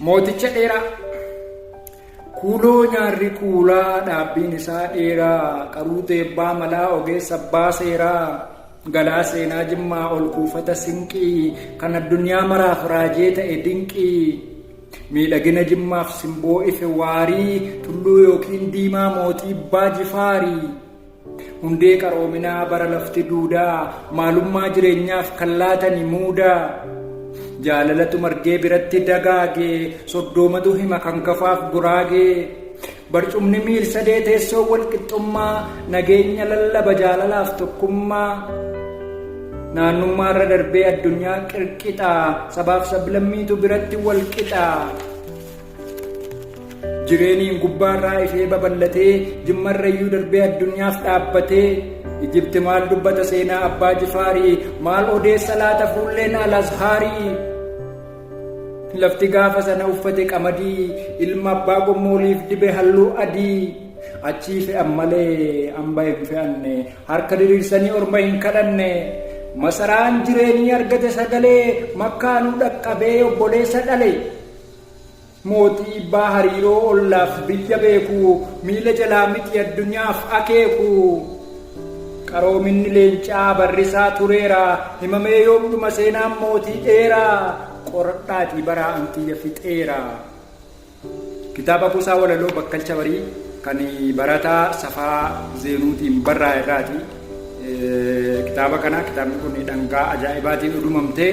Mooticha dheeraa Kuuloo nyaarri kuulaa dhaabbiin isaa dheeraa qaruu teebbaa malaa ogeessa abbaa seeraa galaa seenaa jimmaa ol kuufata sinqii kan addunyaa maraaf raajee ta'e dinqii miidhagina jimmaaf simboo ife waarii tulluu yookiin diimaa mootii abbaa jifaarii. Hundee qaroominaa bara lafti duudaa maalummaa jireenyaaf kan laatani muudaa. Jaalalatu margee biratti dagaage soddoomatu hima kan kafaaf guraagee. Barcumni miil sadee teessoo walqixxummaa nageenya lallaba jaalalaaf tokkummaa. Naannummaa irra darbee addunyaa qirqixaa sabaaf sablammiitu biratti walqixaa. Jireeniin gubbaarraa ishee babal'atee jimmarrayyuu darbee addunyaaf dhaabbatee Ijibti maal dubbata seenaa abbaa jifaarii maal odeessa laata fuulleen alazhaarii Lafti gaafa sana uffate qamadii ilma abbaa gommooliif dibe halluu adii achii fe'an malee hamba hin fe'anne harka diriirsanii orma hin kadhanne masaraan jireenyi argate sagalee makkaanuu dhaqqabee obboleessa dhale Mootii ibbaa hariiroo ollaaf biyya beeku, miila jalaa miti addunyaaf akeeku. Qaroominni leencaa barrisaa tureera, himamee yoom dhuma seenaan mootii dheeraa? Qoradhaatii baraa an kiyya fixeera. Kitaaba Kuusaa Walaloo Bakkalcha Barii kan barataa Safaa Zeenuutiin barraa'e irraati. Kitaaba kana kitaabni kun dhangaa ajaa'ibaatiin udumamtee